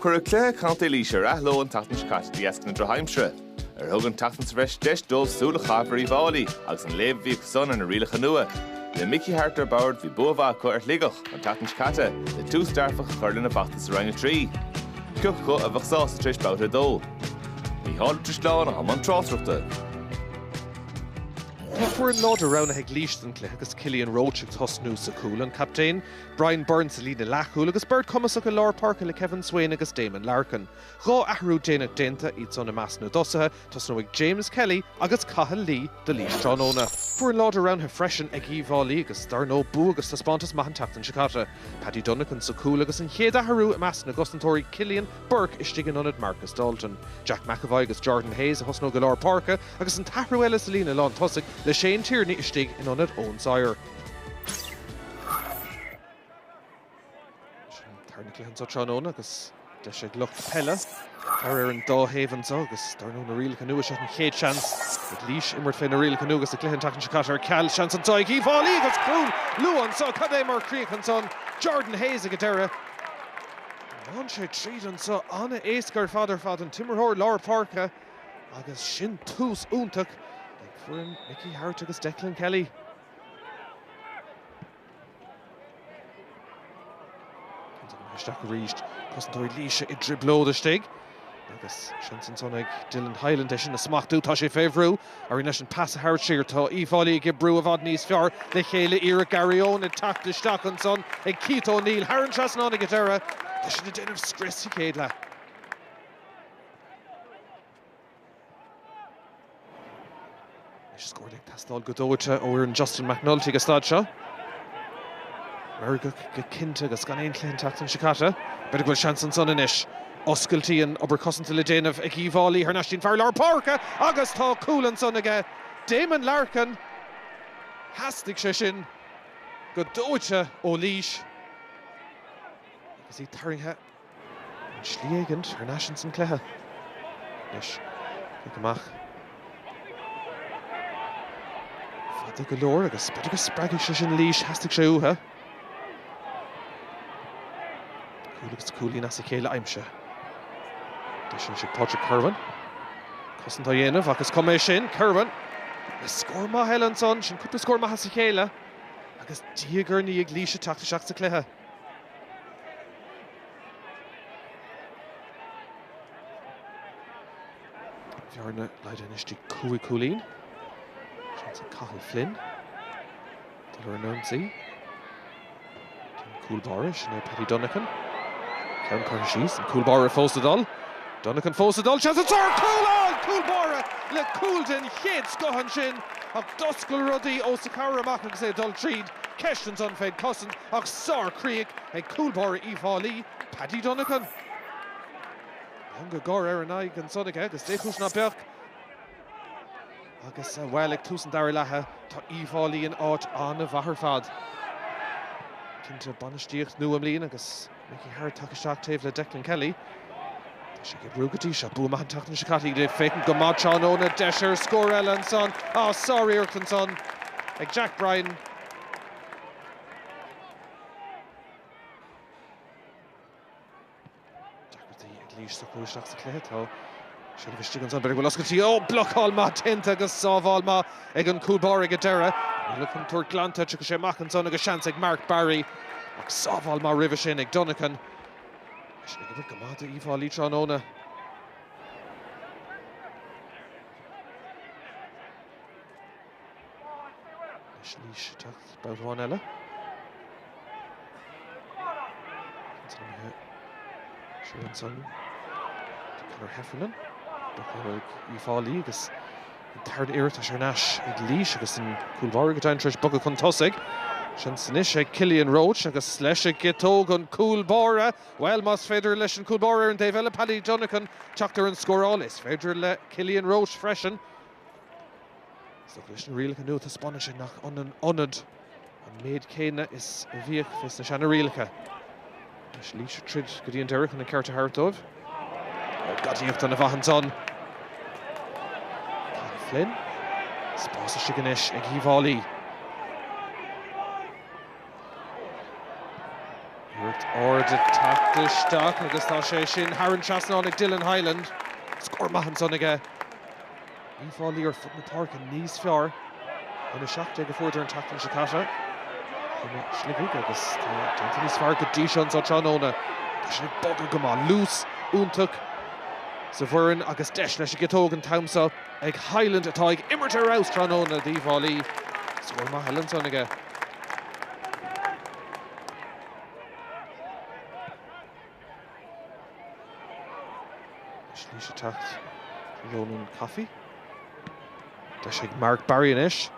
Cuireadh cluiche Contae Laois ar athló an tseachtain seo caite de dheasca na drochaimsire, ar thug an tseachtain sa bhreis deis dóibh súil a chaitheamh ar Uíbh Fháilí agus an léamh a bhí acusan ar na rialacha nua. Le Mickey Harte ar bord, bhí bua mhaith acu ar Shligeach an tseachtain seo caite le tús dearfach a chur lena bhfeachtas i Roinn 3. Pioc acu a bheadh sásta tar éis Babhta 2. Níall Ó Drisleáin i mbun tráchtaireachta. Tá foireann láidir roghnaithe ag Laois don chluiche agus Killian Roche ag tosnú sa chúl, an captaen. Brian Byrne sa líne leathchúl agus beirt chumasach i lár páirce le Kevin Swayne agus Damon Larkin. Dhá athrú déanach déanta, iadsan i measc na dtosaithe, tosnóidh James Kelly agus Cathal Lee do Laois tráthnóna. Foireann láidir roghnaithe freisin ag Uíbh Fhailí agus dar ndóigh bua agus taispeántas maith an tseachtain seo caite. Paddy Dunican sa chúl agus an chéad athrú i measc na gcosantóirí, Cillian Bourke istigh in ionad Marcus Dalton. Jack McEvoy agus Jordan Hayes a thosnóidh i lár páirce agus an t-athrú eile sa líne lán tosaigh le Shane Tierney istigh in ionad Eoin Sawyer. Tar chun an chluiche anseo tráthnóna agus deis ag lucht peile tar ar an dá thaobh anseo agus dar ndóigh na rialacha nua seo an chéad seans ag Laois imirt fé na rialacha nua agus an cluiche an tseachtain seo caite ar ceal. Seans anseo ag Uíbh Fháilí agus cúl luath anseo. Cad é mar chríoch ansan? Jordan Hayes ag an deireadh. Bhain sé tríd anseo. An-éasca ar fad ar fad an t-imreoir lár páirce. Agus sin tús iontach ag foireann Mickey Harte agus Declan Kelly. Isteach arís cosantóirí Laoise i dtrioblóid istigh agus seans ansan ag Dylan Hyland é sin a smachtú. Tá sé fé bhrú. Éiríonn leis an pas a thabhairt siar. Tá Uíbh Fhailí ag oibriú i bhfad níos fearr le chéile. Iarracht gearradh ón teacht isteach ansan ag Keith O'Neill. Thar an trasnán ag an deireadh. Tá siad ag déanamh scrios sa chéad leath. Is scór ag teastáil go dóite ó fhoireann Justin McNulty ag an staid seo meirgeach go cinnte agus gan aon chluiche an tseachtain seo caite. B'fhéidir go bhfuil seans ansan anois. Oscailtíonn obair cosanta le déanamh ag Uíbh Fhailí thar n-ais. Téann fear lár páirce agus tá cúl ansan aige. Damon Larkin. Theastaigh sé sin go dóite ó Laois. Agus iad tarraingthe. ar shlí éigint thar n-ais ins an cluiche anois. Cic amach fada go leor agus b'fhéidir go spreagfaidh sé sin Laois, theastaigh sé uatha. Cúl agus cúilín as a chéile aimsithe. Deis ansin ag Patrick Kirwan cosaint á dhéanamh ach is cuma é sin. Kirwan le scór maith eile ansan, sin cúpla scór maith as a chéile agus diaidh ar ndiaidh Laois ag teacht isteach sa cluiche. Bhearna laghdaithe anois go dtí cúig chúilín. Seans ag Cathal Flynn dul ar an ionsaí. Tá an cúl báire, sin é Paddy Dunican. Ceann curtha síos, an cúl báire fós ag dul. Dunican fós ag dul, seans ar scór! Cúl ann! Cúl báire le cúl den chéad scoth ansin ach d'oscail rudaí os a chomhair amach agus é ag dul tríd. Ceist ansan fén gcosaint ach sárchríoch ag cúl báire Uíbh Fháilí, Paddy Dunican. Meangadh gáire ar an aghaidh ansan aige agus dé chúis ná beadh? Agus, bhuel, ag tús an dara leatha, tá Uíbh Fháilí in áit an-mhaith ar fad. Cinnte, bainistíocht nua i mbliana agus. Mickey Harte tagtha isteach taobh le Declan Kelly. Tá sé ag oibriú go dtí seo. Bua maith an tseachtain seo caite ag féachaint go maith tráthnóna. Deis ar scór eile ansan. Ah, sáriarracht ansan ag Jack Bryant. Ionadaí ag Laois á chur isteach sa chluiche. Tá seilbh istigh ansan. B'fhéidir go bhfuil oscailtí. Ó! Blocáil maith déanta agus sábháil maith ag an gcúl báire ag an deireadh. Níl an chontúirt glanta. Tiocfaidh sé amach ansan agus seans ag Mark Barry. Ach sábháil maith roimhe sin ag Dunican. Eisean ag imirt go maith do Uíbh Fháilí tráthnóna. Anois Laois ag teacht babhta amháin eile. Ansan imithe siar ansan do Conor Heffernan. Buachan ag Uíbh Fháilí agus tá an liathróid ar ais ag Laois agus an cúl báire go deimhin tar éis bogadh chun tosaigh. Seans anois ag Killian Roche agus leis an gciotóg an cúl báire. Bhuel, más féidir leis an gcúl báire ar an taobh eile, Paddy Dunican, teacht ar an scóráil, is féidir le Killian Roche freisin. Is dócha leis na rialacha nua taispeánann sé nach ionann ionad an méid céanna is a bhíodh fé sna seana rialacha. Anois Laois ag troid go dtí an deireadh chun an ceart a thabhairt dóibh. Gadaíocht ana mhaith ansan. Cian Flynn. Spás istigh anois ag Uíbh Fháilí. Iarracht ard ag teacht isteach agus tá sé sin thar an trasnán ag Dylan Hyland. Scór maith ansan aige. Uíbh Fháilí ar fud na páirce níos fearr ná na 17 a fuaireadar an tseachtain seo caite i Sligeach agus tá déanta níos fearr go dtí seo anseo tráthnóna. Tá siad ag bogadh go maith, luas iontach sa bhfoireann agus deis leis an gciotóg an t-am seo ag Hyland atá ag imirt ar fheabhas tráthnóna d'Uíbh Fháilí. Scór maith eile ansan aige. Slí isteach Ronan Coffey. Tá sé ag Mark Barry anois.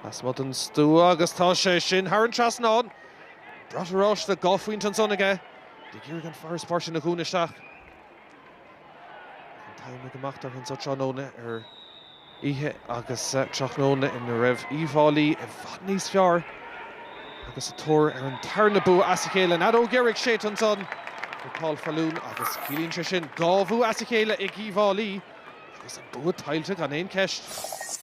Lasmuigh don stua agus tá sé sin thar an trasnán. Brat oráiste dhá phointe ansan aige. Ag iarraidh an farasbarr a dhúnadh isteach. An t-am ag imeacht orthu ansa tráthnóna ar Oíche agus tráthnóna ina raibh Uíbh Fháilí i bhfad níos fearr agus a dtóir ar an tarna bua as a chéile. An fheadóg dheiridh séidte ansan ag Paul Faloon agus ciallaíonn sé sin dhá bhua as a chéile ag Uíbh Fháilí agus an bua tuillte acu gan aon cheist.